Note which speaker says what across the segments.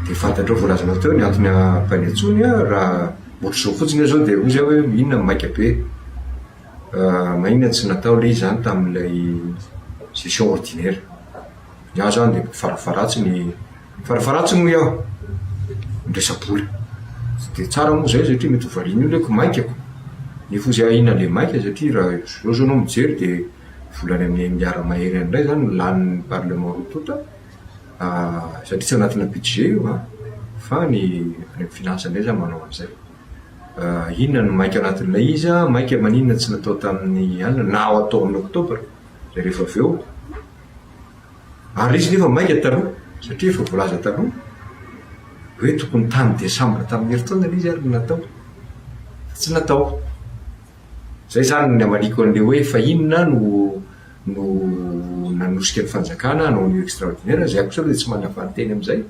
Speaker 1: Dia fantatrao voalazanao teo ny antony ampahany intsony an, raha ohatr'izao fotsiny izao dia hoy zay hoe inona no maika be? Maninona no tsy natao ilay izy izany tamin'ilay session ordinaire? Ny ahy izany dia farafaharatsiny, farafaharatsiny hoy aho ny resa-bola. Tsy dia tsara moa izay satria mety ho varian'ny olona hoe ko maika ko! Nefa hoy zay aho inona ilay maika satria raha izao izao enao mijery dia vola any amin'ny un milliard mahery any indray izany no lanin'ny parlement roa tonta. Satria tsy anatina budget io an! Fa ny any amin'ny finance indray izany manao an'izay. Inona no maika anatin'ilay izy an! Maika maninona tsy natao tamin'ny alina na ho atao amin'ny oktobra dia rehefa avy eo. Ary izy nefa maika taloha, satria efa voalaza taloha hoe tokony tamin'ny desambra tamin'ny herintaona ilay izy ary no natao. Fa tsy natao. Izay izany ny hamaliako an'ilay hoe fa inona no no nanosika ny fanjakana hanao an'io extraordinaire izay akosa aloha dia tsy manavanteny amin'izay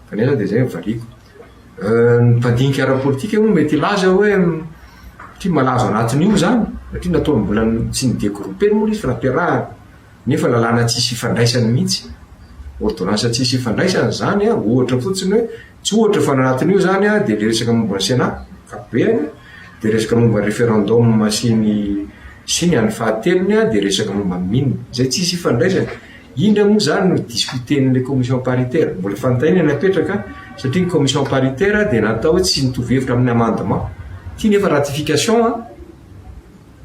Speaker 1: fa nefa dia izay no valiako. Ny mpandinika ara-politika moa mety hilaza hoe satria malaza ao anatin'io izany satria nataony mbola tsy ni-degrouper moa ilay izy fa nampiarahany. Nefa lalàna tsisy ifandraisany mihitsy. Ordonnance tsisy ifandraisany izany an, ohatra fotsiny hoe, tsy ohatra fa ny anatin'io izany an dia ilay resaka momba ny Sénat ankapobeny an, dia resaka momba ny referendum sy ny sy ny an'ny fahatelony an dia resaka momba ny mines izay tsisy ifandraisany. Indra moa izany no discuter-n'ilay commission paritaire. Mbola fantaina ny apetraka satria ny commission paritaire dia natao hoe tsy mitovy hevitra amin'ny amendement. Ity nefa ratification an.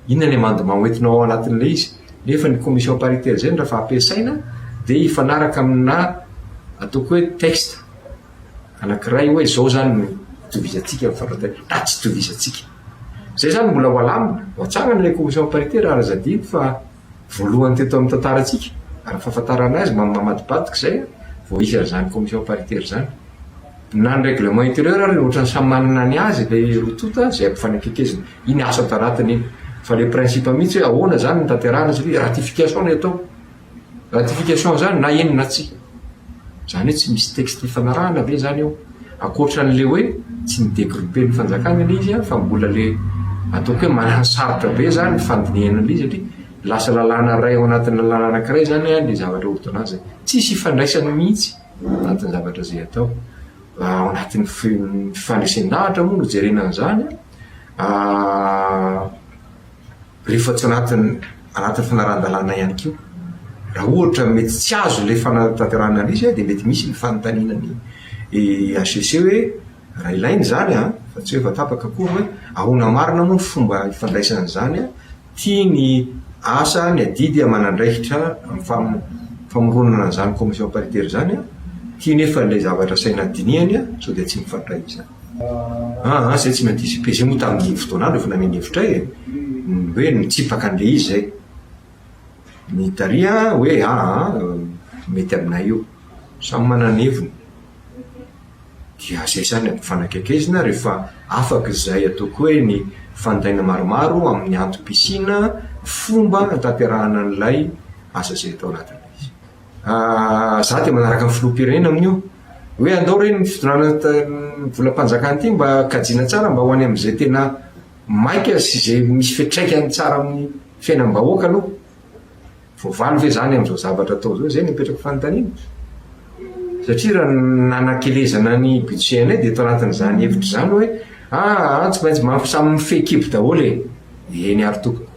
Speaker 1: Inona ny amendement hoentinao ao anatin'ilay izy? Nefa ny commission paritaire izay no raha fa ampiasaina dia hifanaraka aminà ataoko hoe texte anankiray hoe izao izany no itovizantsika ny fandrataina na tsy itovizantsika. Izay izany mbola ho alamina, ho atsangana ilay commission paritaire raha zadidy fa. Voalohany teto amin'ny tantarantsika, ary ny fahafantarana azy, mba mamadibadika izay, vao hisy an'izany commission paritaire izany. Na ny règlement intérieur ary ohatrany samy manana ny azy ilay roa tonta izay ampifanekekizina. Iny asa an-taratiny iny. Fa ilay principe mihitsy hoe ahoana izany no tanterahana satria ratification no atao. Ratification izany na eny na tsia. Izany hoe tsy misy texte ifanarahana ve izany eo? Ankoatra an'ilay hoe tsy mi-degrouper ny fanjakana ilay izy fa mbola ilay ataoko hoe mananosarotra be izany ny fandinihana an'ilay izy satria lasa lalàna iray ao anatin'ny lalàna anankiray izany ilay zavatra ordonnance e. Tsisy ifandraisany mihitsy ao anatin'ny zavatra izay atao. Ao anatin'ny fandresen-dahatra moa no hijerena an'izany an. rehefa tsy anatin'ny anatin'ny fanarahan-dalàna ihany koa. Raha ohatra mety tsy azo ilay fanatanterahana an'io izay dia mety misy ny fanontaniana ny HCC hoe raha ilaina izany an, fa tsy hoe efa tapaka akory hoe ahoana marina moa ny fomba hifandraisana an'izany an, ty ny asa ny adidy aman'andraikitra amin'ny famoronana an'izany commission paritaire izany an, ty nefa ilay zavatra asaina dinihany an, sao dia tsy mifandray izany. Aa izay tsy maintsy hisy pejy moa tamin'iny fotoana andro efa nameno hevitra ahy e! ny hoe nitsipaka an'ilay izy izay. Ny Tary an, hoe aa mety aminay io. Samy manana ny heviny. Dia izay izany ampifanakaikezina rehefa afaka izay ataoko hoe ny fanontanina maromaro amin'ny antom-pisiana fomba hanatanterahana an'ilay asa izay tao anatin'ilay izy. Izaho dia manaraka ny filoham-pirenena amin'io. hoe andao re ny fitondrana ny volam-panjakana ity mba kajiana tsara mba ho any amin'izay tena maika sy izay misy fiatraikany tsara amin'ny fiainam-bahoaka aloha. Voavaly ve izany amin'izao zavatra atao izao? Izay no apetrako fanontaniana. Satria raha ny nanakelezana ny budget-nay dia tao anatin'izany hevitra izany hoe aa tsy maintsy mba samy mifehy kibo daholo e! Eny ary tompoko,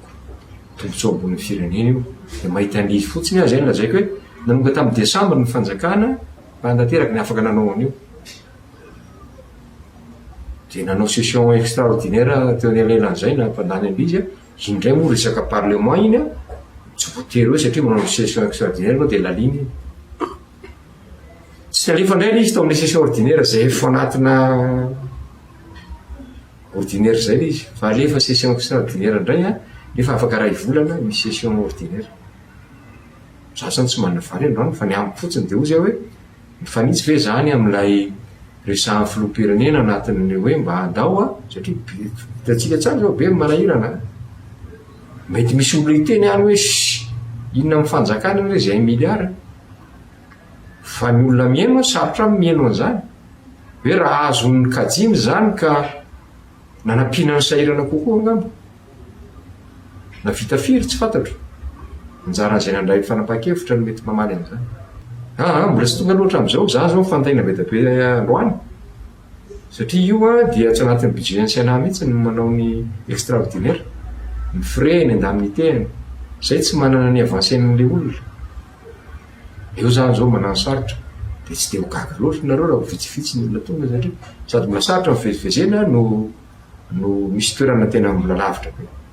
Speaker 1: tombontsoa ambon'ny firenena io dia mahita an'izy fotsiny aho izay no lazaiko hoe. Nanonga tamin'ny Desambra ny fanjakana raha tanteraka ny afaka nanao an'io. Dia nanao session extraordinaire teo anelanelan'izay na mpandany an'ilay izy, iny indray moa resaka parlement iny tsy voatery hoe satria manao session extraordinaire ianao dia lalina iny. Tsy nalefa indray ilay izy tao amin'ilay session ordinaire izay efa anatina ordinaire izay ilay izy fa alefa session extraordinaire indray an, nefa afaka iray volana ny session ordinaire. Za zany tsy manavaly androany fa ny amiko fotsiny dia hoy zay hoe mifanitsy ve zany amin'ilay resahan'ny filoham-pirenena anatin'ny hoe mba andao a, satria hitantsika tsara zao be ny manahirana a. Mety misy olona hiteny any hoe shhh inona amin'ny fanjakana anie izay un milliard. Fa ny olona mihaino a, sarotra aminy mihaino an'izany. Hoe raha azony kajiana izany ka nanampiana ny sahirana kokoa angamba. Na vita firy tsy fantatro. Anjaran'izay nandray ny fanapahan-kevitra no mety mamaly an'izany. Aa, mbola tsy tonga loatra amin'izao, za zao mifantaina be dia be androany, satria io an dia tsy anatin'ny budget ny Sénat mihitsy ny manao ny extraordinaire, ny frais, ny indemnités, zay tsy manana ny avancen' ilay olona. Eo zany zao manano sarotra de tsy de ho gaga loatra nareo raha vitsivitsy ny olona tonga satria sady mbola sarotra ny fivezivezena no no misy toerana tena mbola lavitra be.